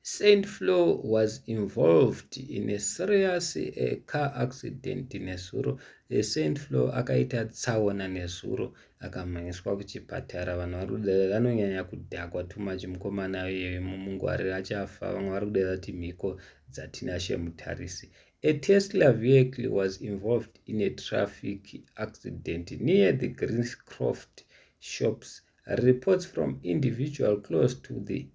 Saint Flo was involved in a serious uh, car accident nezuro. Uh, Saint Flo akaita tsaona nezuro akamhanyiswa kuchipatara. Vanhu vari kudada vanonyanya kudhakwa too much mukomana iyeyo mumungwari achafa. Vamwe vari kudada kuti mhiko dzatinashe mutarisi. A Tesla vehicle was involved in a traffic accident near the Greenscroft shops. Reports from individual close to the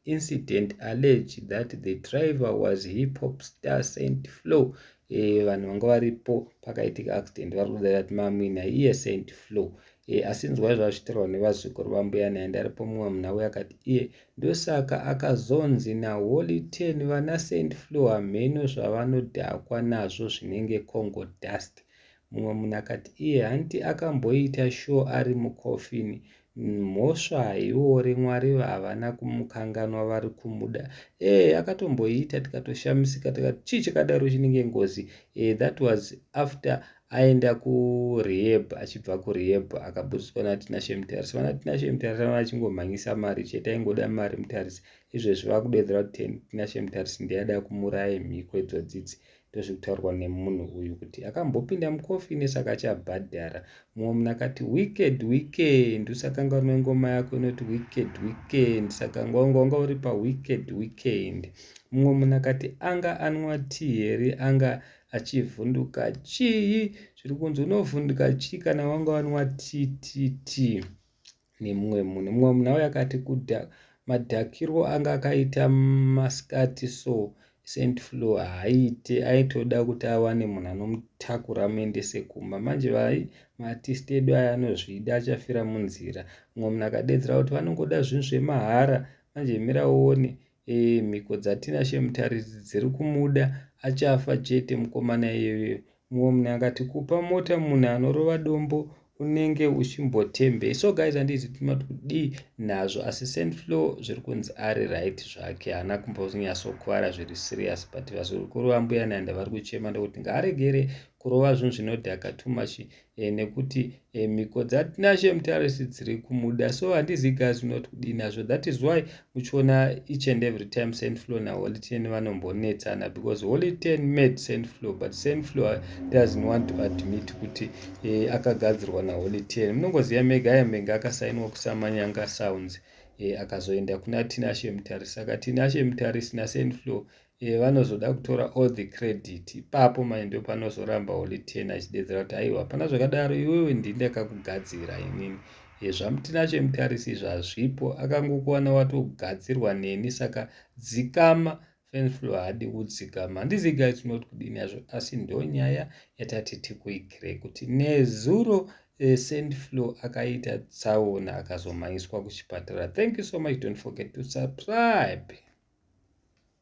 incident allege that the driver was hip hop star saint flow eh, vanhu vanga varipo pakaitika accident vari kuda vati mamwina iye saint flow e, asi nzwai zvazvitirwa nevazukuru vambuya naye ndaripo mumwe munhu auya akati iye ndosaka akazonzi naholy ten vana saint flow hamheno zvavanodhakwa nazvo zvinenge congo dust mumwe munhu akati iye hanti akamboita sure ari mucoffin mhosva haiore mwari havana kumukanganwa vari kumuda ee eh, akatomboiita tikatoshamisika tikati chii chakadaro chinenge ngozi ee eh, that was after aenda kurehab achibva kurehab akaburitswa natinashe mutarisi vanatinashe mutarisi vana vachingomhanyisa mari chete aingoda mari mutarisi izvezvi vakudedzera kuti tinashe mutarisi ndiyada kumuraya mhiko idzodzidzi ndozviri kutaurwa nemunhu uyu kuti akambopinda mucoffin saka achabhadhara mumwe munhu akati wicked weekend usakanga une ngoma yako inoti wicked weekend saka ngwangwanga uri pawicked weekend mumwe munhu akati anga anwa ti here anga achivhunduka chii zviri kunzi unovhunduka chii kana wanga wanwa ttt nemumwe munhu mumwe munhu auya akati kuda madhakirwo anga akaita masikati so sent flow haaite aitoda kuti awane munhu anomutakura amuendese kumba manje vai maartist edu aya anozvida achafira munzira mumwe munhu akadedzera kuti vanongoda zvinhu zvemahara manje mira uone Ee, mhiko dzaTinashe Mutaridzi dziri kumuda, achafa chete mukomana iyeyo. Mumwe munhu akati kupa mota munhu anorova dombo unenge uchimbotembe. So guys handiti timati kudii nazvo asi Saint Flo zviri kunzi ari right zvake haana kumbonyatsokuvara zviri serious but vazukuru vambuya Nanda vari kuchema ndokuti ngaaregere kurova zvinhu zvinodhaka too much e, nekuti e, mhiko dzatinashe mutarisi dziri kumuda so handizi guys not kudii nazvo that is why muchiona each and every time saint flow naholy ten vanombonetsana because holy ten made saint flow but saint flow doesn't want to admit kuti e, akagadzirwa naholy ten munongoziva mega yamenge akasainwa kusamanyanga sounds e, akazoenda kuna tinashe mutarisi saka tinashe mutarisi nasaint flow e, vanozoda kutora all the credit ipapo mai ndo panozoramba holy ten achidedzera kuti aiwa hapana zvakadaro iwewe ndii ndakakugadzira inini e, zvamutinacho imutarisi izvo hazvipo akangokuwana watogadzirwa neni saka dzikama fenflo haadi kudzikama handiziga its not kudini yazvo asi ndo nyaya yatati tikuigire kuti nezuro e, sendflo akaita tsaona akazomhanyiswa kuchipatara thank you so much don't forget to subscribe